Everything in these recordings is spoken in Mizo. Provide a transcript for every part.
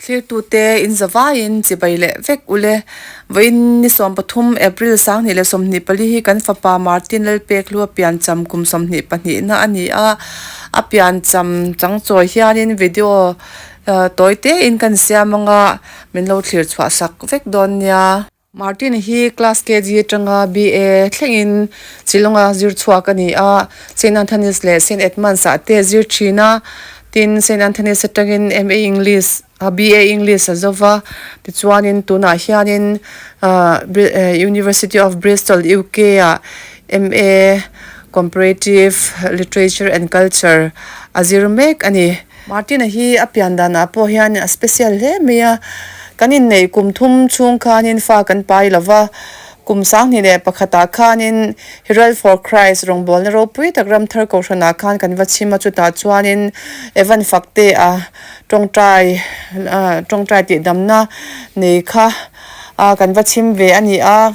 Thirtute in za vaiin chibai leh vek ule. Vawiin ni sawm pathum, April, sanghnih leh sawmhnih pali hi kan fapa Martin Lalpekhlua piancham kum sawmhnih pahnihna a ni a. A piancham changchawi hianin video tawi tein kan siam anga min lo thlir chhuah sak vek dawn nia. Martin hi class KG atanga BA thlengin Shillonga zir chhuak a ni a, Saint Anthony's leh Saint Edmund's ah te zir thin a, tin Saint Anthony's atangin MA English, BA English a zo va, tichuanin tunah hianin University of Bristol, UK ah MA Comparative Literature and Culture a zir mek a ni. Martina hi a pian danah pawh hianin a special hle mai a, Kan inneih kum thum chhung khanin fa kan pa i lova, kum sanghnih leh pakhatah khanin Herald for Christ rawngbawlna ropui tak Ramthar Kohhranah khan kan va chhim a, chutah chuanin Evan Faktea tawngtai tawngtai tihdamna nei kha kan va chhim ve a ni a.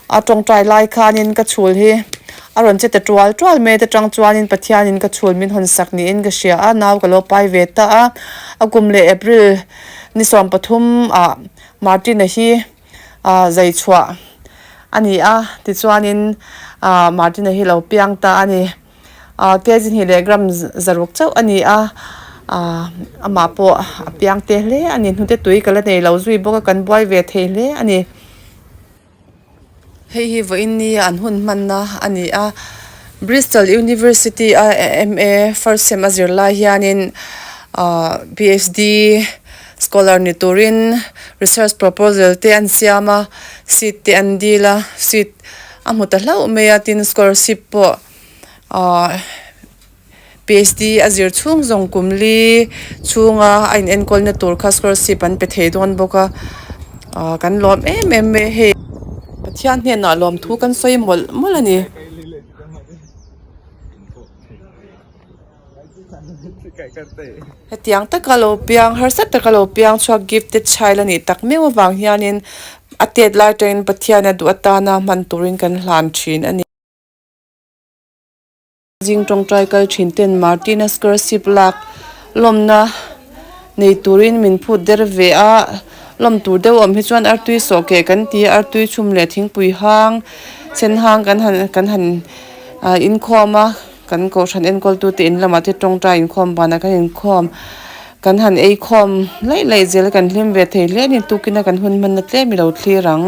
A tawngtai lai khanin ka chhul hi a rawn che ta tual tual mai te tang chuanin Pathianin ka chhul min hawn sak niin ka hria a, nau ka lo pai ve ta a. A kum leh April ni sawm pathum ah Martina hi zei chhuah a ni a, tichuanin Martina hi lo piang ta a ni. Kg hnih leh gram zaruk chauh a ni a, amah pawh a piang te hle a ni. Hnute tui ka la nei lo zui bawk a, kan buai ve thei hle a ni. Hei hi vawiin ni a an hun hmanna a ni a, Bristol University a MA first sem a zir lai hianin aah PHD scholar ni turin research proposal te an siam a, seat te an dil a, seat a hmu ta hlauh mai a tin scholarship pawh aah. PHD a zir chhung zawng kum li chhunga a in enkawlna tur kha scholarship an pe thei dawn bawk a, aah kan lawm em em mai hei. Pathian hnenah lawmthu kan sawi mawlh mawlh a ni. Hetiang taka lo piang harsat taka lo piang chhuak gifted child a nih tak meuh avang hianin a tet lai atangin Pathian a duh atana hman turin kan hlan thin a ni. Zing tawngtai kal thin ten Martina scholarship lak lawmna nei turin min phut der ve a, lawm tur deuh awm hi chuan artui sawh keh kan ti a, artui chhum leh thingpui hang, sen hang kan han kan han ahh inkhawm a, kan kohhran enkawl tu te in lamah te tawngtai inkhawm vanah kan inkhawm, kan han eikhawm laih laih zel kan hlim ve thei hle a ni, tukina kan hun hmanna tlem i lo thlir ang.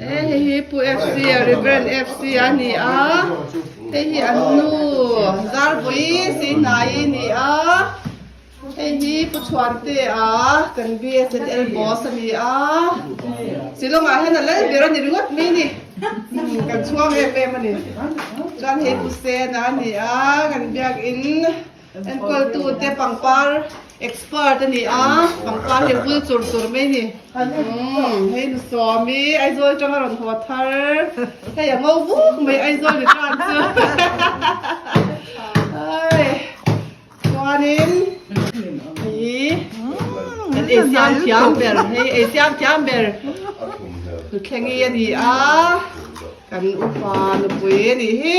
Hei hi Pu FC a Reverend FC a ni a, hei hi an nu Zarvawi Sinai i ni a, hei hi Pu Chhuante a kan BSNL boss a ni a, Shillong ah hian a lal ber a ni ringawt mai ni, kan chhuang em em a ni, chuan hei Pu Sena a ni a kan biak in. Enkualtute pangpar expert a ni a, pangpar hi a bul chur chur mai ni. Umm, hei nu Sawmi, Aizawl tang a rawn haw thar. Hei a ngo buk mai Aizawl ni tan chu. Ai, chuanin, ii, kan ei siam thiam ber, hei ei siam thiam ber Thuthleng i a ni a, kan upa nupui a nih hi.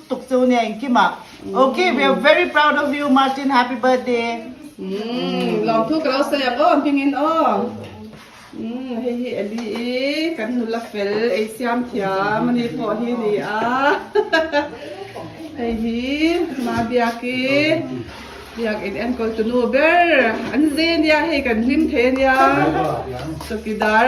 tuk chu nia engkim ah ok we are very proud of you Martin happy birthday umm lawmthu ka lo sawi ang aw hming in aw umm hei hi Eli i kan nula fel ei siam thiam a ni pawh hi ni a hei hi ma biak i biak in enkawl tunu ber an zia nia hei kan hlim thei ania chawkidar.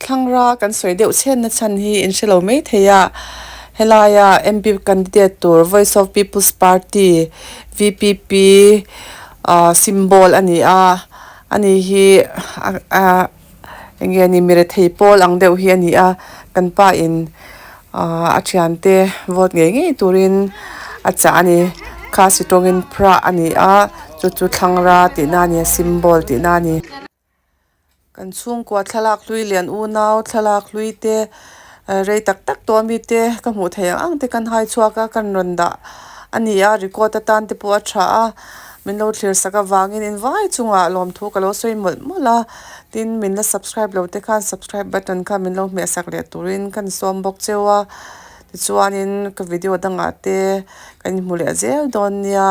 Thlangra kan sawi deuh chhenna chhan hi in hre lo mai thei a, helaia MP candidate tur Voice of People's Party, VPP, symbol a ni a, a ni hi eng nge ni mi rethei pawl ang deuh hi a ni a, kan pa in a thian te vote ngei ngei turin a chah a ni, Khasi tawngin Pra a ni a, chu chu thlangra tihna a ni a, symbol tihna a ni. Kan chhungkua thlalak hlui lian unau, thlalak hlui te, rei tak tak tawh a mi te ka hmuh theih ang ang te kan hai chhuak a, kan rawn dah a ni a, record atan te pawh a tha a, min lo thlir sak avangin in vai chungah lawmthu ka lo sawi mawlh mawlh a, tin min la subscribe lo te khan subscribe button kha min lo hmeh sak leh turin ka ni sawm bawk cheu a, tichuanin ka video dangah te kan inhmu leh zel dawn nia.